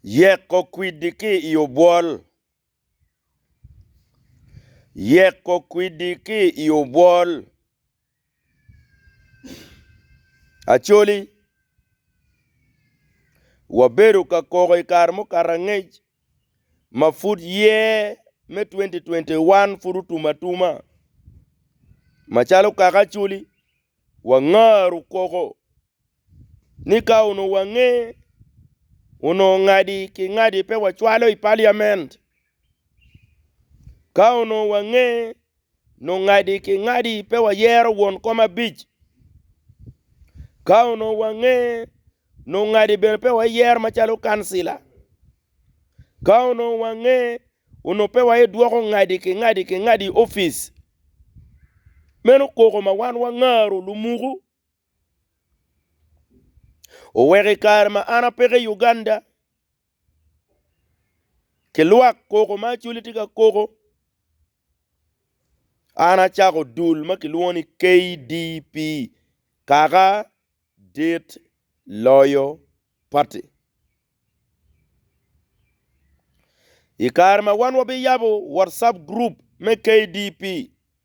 Yeko kwidi ki i obwol. Yeko kwidi ki i obwol. Acoli, wabedo ka koko i kare mukato angec ma pud year me 2021 pud otum atuma. Macalo kaka Acoli, wangaru koko. ni ka onongo wange onongo ngadi ki ngadi pe wacwalo i paliament ka onongo wange nongo ngadi ki ngadi pe wayero won kom abic ka onongo wange nongo ngadi bene pe wayero macalo kancila ka onongo wange onongo pe waye dwoko ngadi ki ngadi ki ngadi opic meno koko ma wan wangaro lumuku. Oweko i kare ma an apeko i Uganda, ki lwak koko ma Acholi tye ka koko, an acako dul ma kilwongo ni KDP, Kaka Dit Loyo Party. I kare ma wan wabiyabo Whatsapp group me KDP.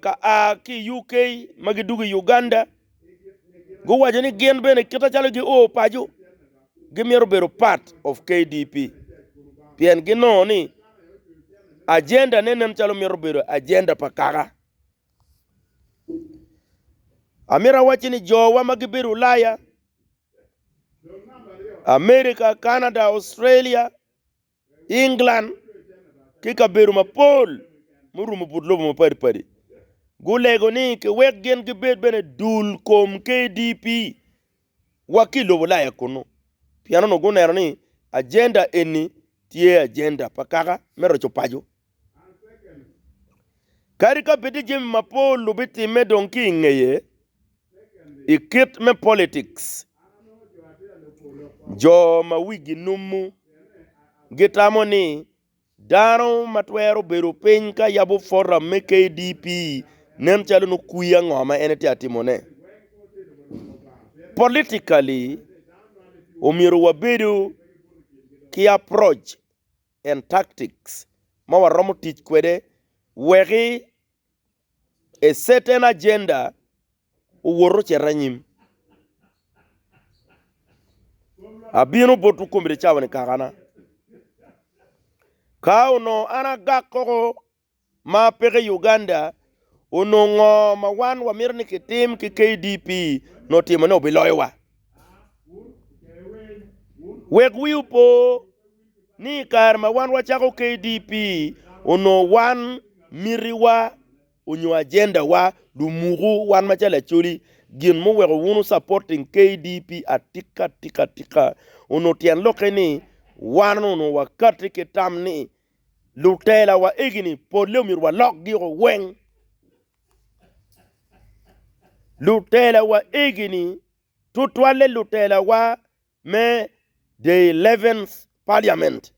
ka a ki i UK ma gidwogo i Uganda guwaco ni gin bene kit macalo gio paco gimito bedo part of KDP pien ginongo ni ajendane nen calo mito bedo ajenda pa kaka. Amito awacci ni jowa ma gibedo Ulaya, Amerika, Canada, Australia. i England ki kabedo mapol murumo but lobo mapadi padi gulego ni ki wek gin gibed bene dul kom KDP wa ki lobo laya kunu pien onongo guneno ni agenda eni tye agenda pa kaka me roco paco. Kadi ka bed ni jami mapol lubitimme dong ki i ngeye i kit me politics, jo ma wigi numu gitamo ni dano ma twero bedo piny ka yabo foram me KDP nen calo nongo kwiya ngo ma en tye ka timone. Politically, omyero wabedo ki approach. and tactics ma waromo tic kwede weki a certain agenda owot ocit anyim. Abino botwu komiti cawa ni kakana. Ka onongo an agak koko ma peke i Uganda onongo ngo ma wan wamito ni kitim ki KDP nongo timo ne obiloyo wa. Wek wi opo ni kare ma wan wacako KDP onongo wan miti wa onyo agenda wa du muku wan macalo Acholi gin muweko wunu supporting KDP atika tika tika onongo tyen lokke ni wan onongo wakati ki tam ni Lutela wa egini pole omyero wa lok gi o weng. Lutela wa egini tutwale lutela wa me the 11th parliament.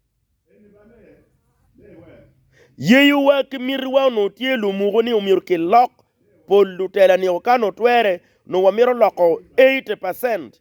Yeyo wa ki miti wa onongo tye lumuko ni omyero ki lok pol lutela ni o kano twere onongo wa mito loko 80 percent.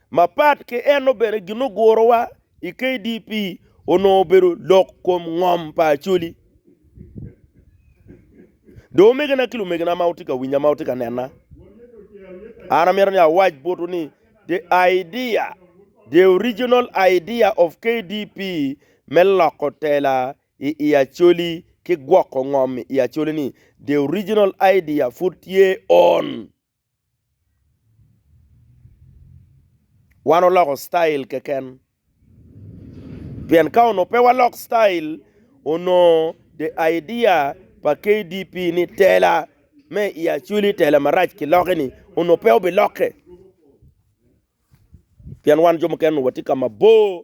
Mapat ki eno bene ginugurowa i KDP onongo obedo lok kom ngom pa Acholi. Do omegina ki lumegina ma wutye ka winya ma wutye ka nena, an amito ni awac botwu ni the idea, the original idea of KDP me loko tela i i Acholi ki gwoko ngom i Acholi ni the original idea pud tye on. Wan oloko citail keken pien ka onongo pe walok citail onongo the idea pa KDP ni tela me i Acholi tela marac kilokki-ni onongo pe obilokke pien wan jo mukene onongo watye ka mabor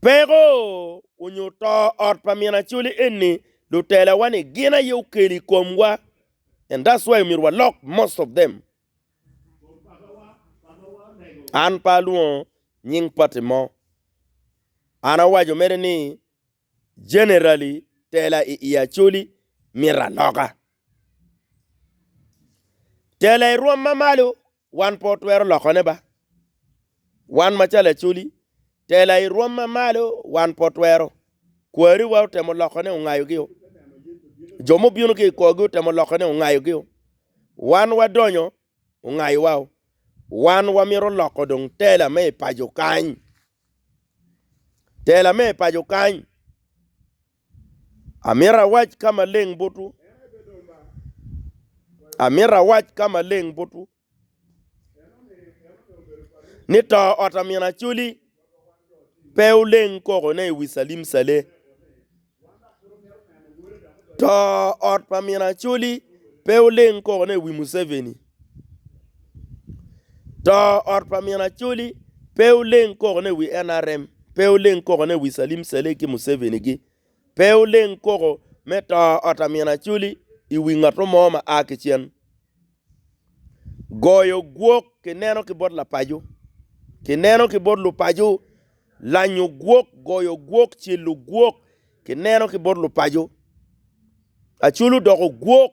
Peko onyo to ot pa min Acholi eni lutela wa ni gin aye okelo ikom wa and that's why omyero walok most of them an pe alwongo nying party mo an awaco mere ni generally tela i i Acholi myero aloka tela i rwom ma malo Wan pe watwero lokone ba. Wan ma ca lacoli, tela i rwom ma malo, wan pe watwero. Kwariwa otemo lokone, ongayogio. Jo mubino ki i korgi otemo lokone, ongayogio. Wan wadonyo, ongayowa-o. Wan wamito loko dong tela me i paco kany. Tela me i paco kany. Amito awac ka maleng botwu, amito awac ka maleng botwu, ni to ot a min Acoli pe oleng kokone i wi Calim Cale. To ot pa min Acoli pe oleng kokone i wi Museveni. To ot pa min Acholi pe oleng koko ne wi NRM, pe oleng koko ne wi Salim Saleh ki Museveni gi, pe oleng koko me to ot a min Acholi i wi ngato mo ma a ki cen. Goyo gwok ki neno ki bot lapaco, ki neno ki bot lupaco, lanyo gwok, goyo gwok, celo gwok ki neno ki bot lupaco. Acholi odoko gwok.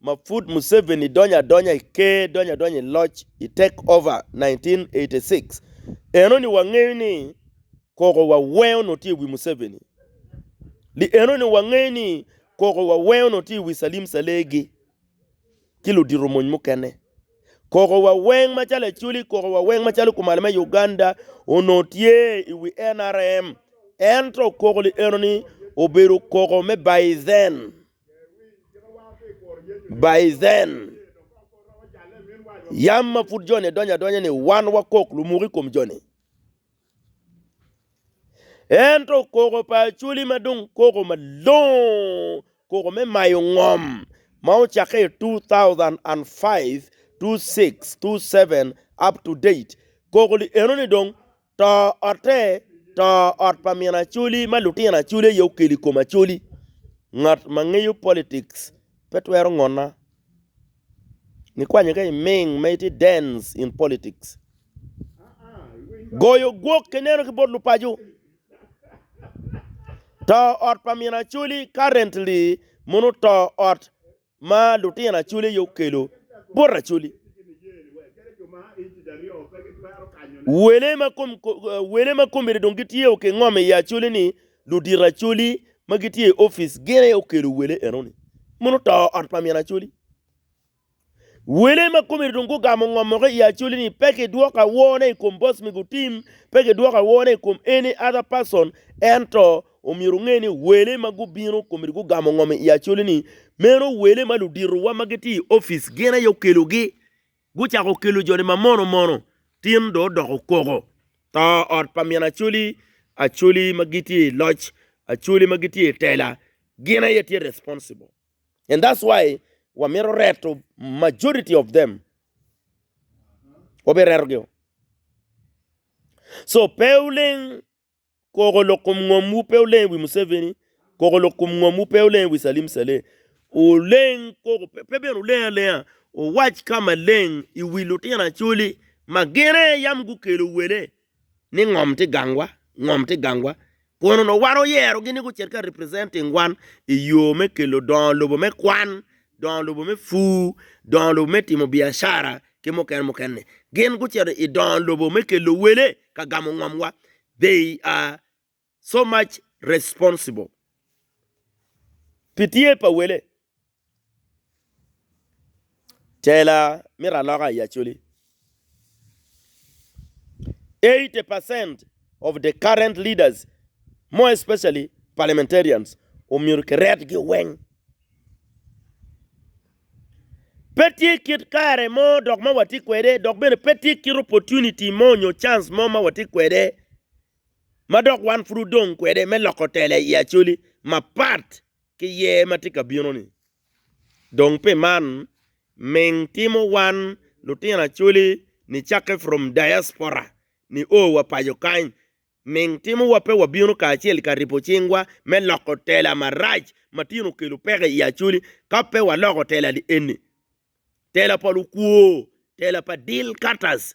ma pud Museveni donyo adonya i ker, donyo adonya i loc i take over 1986, enoni wangeyo ni koko waweyo onongo tye i wi Museveni. Li enoni wangeyo ni koko waweyo onongo tye i wi Salim Salegi ki ludito mony mukene. Koko waweng macalo Acholi, koko waweng macalo kumal me Uganda onongo tye i wi NRM. Ento koko li enoni obedo koko me by then. Baizen, Yam ma pud joni donyo adonya ni wan wakok lumuk i kom joni. Ento koko pa Acholi ma dong koko malongo, koko me mayo ngom ma ocakke i 2005, 26, 27 up to date, koko-ni eno ni dong To otte, to ot pa min Acholi ma lutino Acholi aye okelo i kom Acholi. Ngat ma ngeyo politics pe twero ngona. Nikwanyo ka i Ming ma itye dens in politics. Goyo gwok ki neno ki bot lupaco. To ot pa min Acholi currently mono to ot ma lutino Acholi aye okelo bot Acholi. Wele ma komine dong gitye o kingom i Acholi ni ludito Acholi ma gitye i opic gin aye okelo wele enoni. Mono oto ot pa min Acholi. Wele ma komine dong gugamo ngomogi i Acholi ni pe kidwoko awor ne i kom boss me gutim, pe kidwoko awor ne i kom any other person ento Omyero wunge ni wele ma gubino komedi gugamo ngom i Acholi-ni. Meno wele ma luditowa ma gitye i opic gin aye okelogi. Gucako kelo jo-ni ma mono mono. Tin dong odoko koko. To ot pa min Acholi, Acholi ma gitye i loc, Acholi ma gitye i tela, gin aye tye responsible. And that's why wamito reto majority of them. Wabiretogi-o. So pe wuleng Koko lok kom ngom wu pe oleng wi Museveni, koko lok kom ngom wu pe oleng wi Salim Saleh. Oleng koko pe bene oleng alenga owac ka maleng i wi lutino Acholi ma gin aye yam gukelo wele ni ngom tye gangwa, ngom tye gangwa. Kun onongo wan oyerogi ni gucit ka representing wan i yo me kelo dongo lobo me kwan dongo lobo me pur, dongo lobo me timo biacara ki mukene mukene. Gin gucito i dongo lobo me kelo wele ka gamo ngomwa. They are so much responsible pi tye pa wele. Tela mito aloka i Acholi. Eighty percent of the current leaders more especially parliamentarians omyero kiretgi weng. Pe tye kit kare mo dok ma watye kwede dok bene pe tye kit opportunity mo nyo chance mo ma watye kwede ma dok wan pud odong kwede me loko tela i Acholi mapat ki yer ma tye ka bino-ni. Dong pi man, ming timo wan lutino Acholi nicakke from diaspora ni o wa paco kany, ming timo wa pe wabino kacel ka ripo cingwa me loko tela marac ma tin okelo peke i Acholi ka pe waloko tela-ni eni, tela pa lukwor, tela pa deal cutters,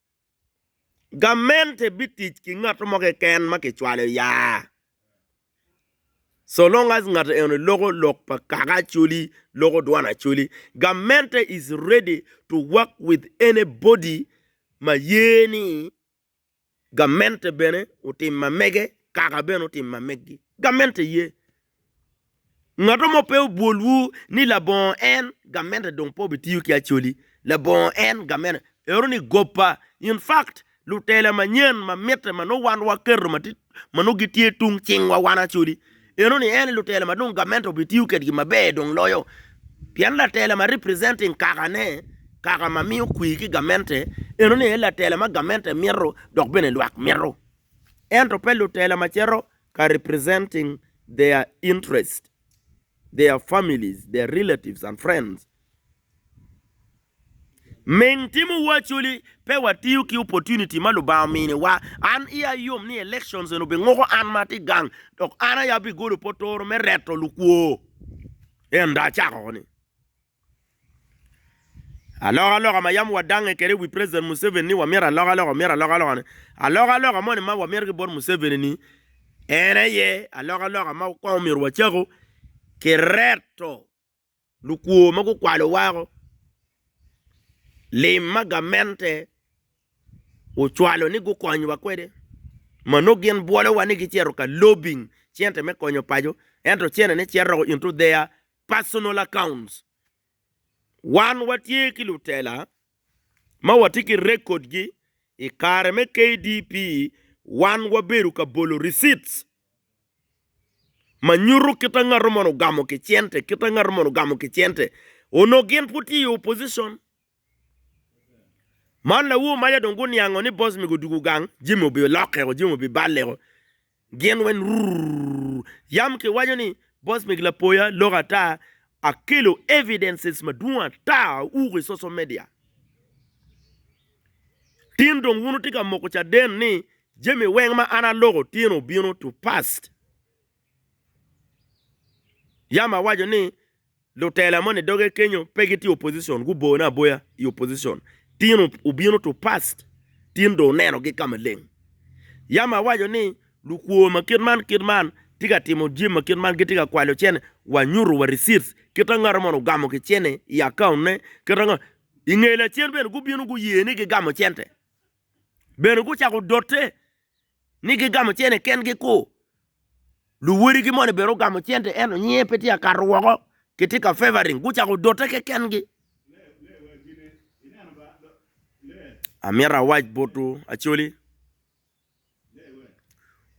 Gamente bitic ki ngat mo keken ma kicwalo ya, so long as ngat eno loko lok pa kaka Acholi loko dwan Acholi. Gamente is ready to work with anybody ma ye ni gamente bene otim ma mege kaka bene otim ma megi. Gamente ye Ngat mo pe obwolwu ni labongo en gamente dong pe obitiyo ki Acholi, labongo en gamente ero ni gobba. In fact, lutela manyen ma mitte ma nongo wan waketo ma nongo gitye tung cingwa wan Acholi, eno ni en aye lutela ma dong gamente obitiyo kwedgi maber dong loyo. Pien latela ma representing kakane, kaka ma miyo kwe ki gamente, eno ni aye latela ma gamente mito dok bene lwak mito. Ento pe lutela macito. ka representing their interest, their families, their relatives and friends. Ming timo wa actually pe wa tiyo ki opportunity ma lubanga omini wa, an iya yom ni elections eni obi nguko an ma atye gang dok an aye abi golo potoro me reto lukwo enda acako ni. Aloka aloka ma yam wadange kede iwi president Museveni ni wamyero aloka aloka omyero aloka aloka ni aloka aloka moni ma wamyero ki bot Museveni ni en aye aloka aloka ma kong omyero wacako ki reto lukwo ma gukwalo wako lim ma gamente ocwalo ni gukony wa kwede ma nongo gin bwolo wa ni gicito ka lobing cente me konyo paco ento cene ne cito doko into their personal accounts. Wan watye ki lutela ma watye ki record gi i kare me KDP wan wabedo ka bolo receipts ma nyuto kita ngato man ogamo ki cente kita ngato man ogamo ki cente onongo gin pud tye i opposition Man lawu omaca dong guniango ni boss mego odugo gang jami obi lokke o jami obi balle o gin weng rurururur yam ki waco ni boss mego lapoya lok ata akelo evidences madwong ata owuko i social media tin dong wun wutye ka moko caden ni jami weng ma an aloko tye ni obino to past yam awaco ni Lutela moni doge kenyo pe gitye opposition guboyo ne aboya i opposition tin obino to past tin dong oneno gi ka maleng yam awaco ni lukwor ma kit man kit man tye ka timo jim ma kit man gitye ka kwalo cene wa nyuto wa receipts kit ma ngato moni ogamo ki cene i account ne kit ma i nge lacen bene gubino guye ni gigamo cente bene gucako dote. ni gigamo cene kengi ku luwodigi moni bene ogamo cente ento nyinge pe tye ka kato woko kitye ka favoring gucako dote kekengi amito awac botwu acoli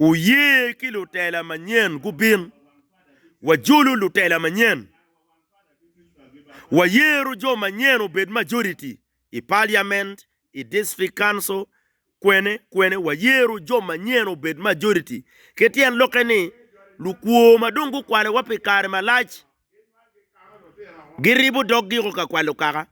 wuye ki lutela manyen gubin wajolu lutela manyen wayero jo manyen obed majority i parliament i District Council kwene kwene wayero jo manyen obed majority. Ki tyen lokke ni, lukwo ma dong gukwalowa pi kare malac giribo doggigo ka kwalo kaka.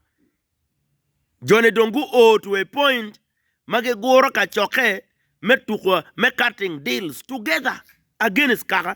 Jone dong guo to a point ma giguro kacokke me tuko me cutting deals together against kaka.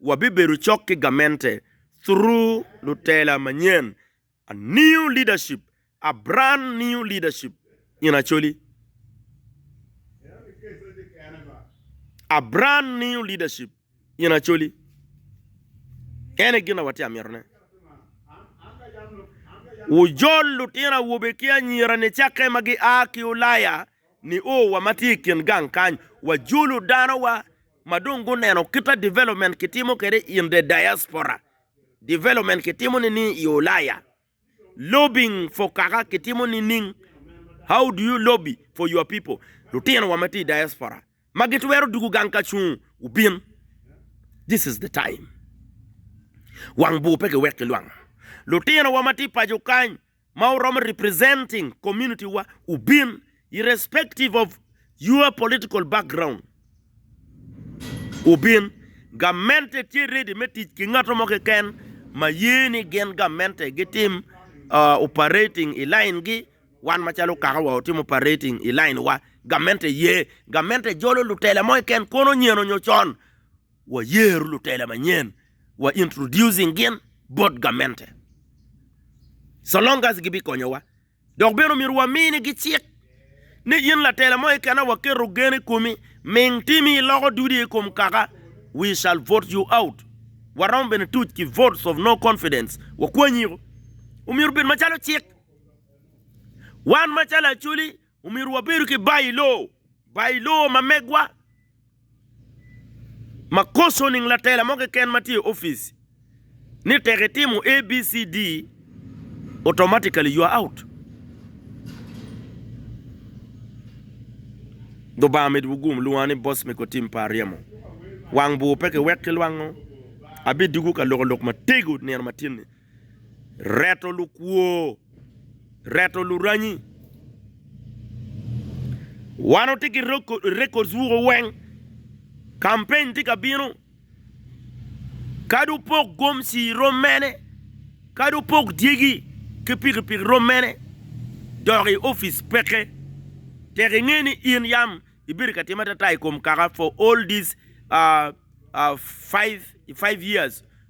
Wabibedo cok ki gamente through lutela manyen, a new leadership, a brand new leadership in Acholi, a brand new leadership in Acholi. Ene gin a watye a mito ne. Wujol lutino awobe ki anyira ni cakke ma gi a ki Ulaya ni o wa ma tye i kin gang kany, wajolu dano wa ma dong guneno kita development kitimo kede in the diaspora, development kitimo nining i Ulaya, lobbying for kaka kitimo nining, how do you lobby for your people, lutino wa ma tye i diaspora ma gitwero dugu gang ka cung wubin, this is the time, wang bur pe giwek ki lwang, lutino wa ma tye i paco kany. ma wuromo representing community wa wubin irrespective of your political background wubin gamente tye ready me tic ki ngato mo keken ma ye ni gin gamente gitim uh, operating i line gi wan macalo kaka wa watimo operating i line wa gamente ye gamente jolo lutela mo keken kono nyeno nyo con Wayeru lutela manyen, wa introducing gin bot gamente. So long as gibikonyowa. Dok bene omyero waminigi cik ni in latela mo kena waketo gen i komi, ming timi iloko dudi i kom kaka, we shall vote you out. Waromo bene tuc ki votes of no confidence, wakwanyiko. Omyero obed macalo cik. Wan macalo Acholi Omyero wabedo ki Bailo, Bailo ma megwa ma koso nining latela mo keken ma tye i opic ni tek itimo ABCD automatically you are out. Lubanga med wu gum lwonga ni boss me kotim pa aryemo. Wang bur pe ki wek ki lwango. Abi dugu ka loko lok matego nino matyeni. reto lukwo, reto luranyi. Wan watye ki records wuku weng, campaign tye ka bino, kadi opok gomci rom mene, kadi opok dyegi ki pikipiki rom mene, dok i opic peke. Tek inge ni in yam ibedo ka tim atata i kom kaka for all these five years.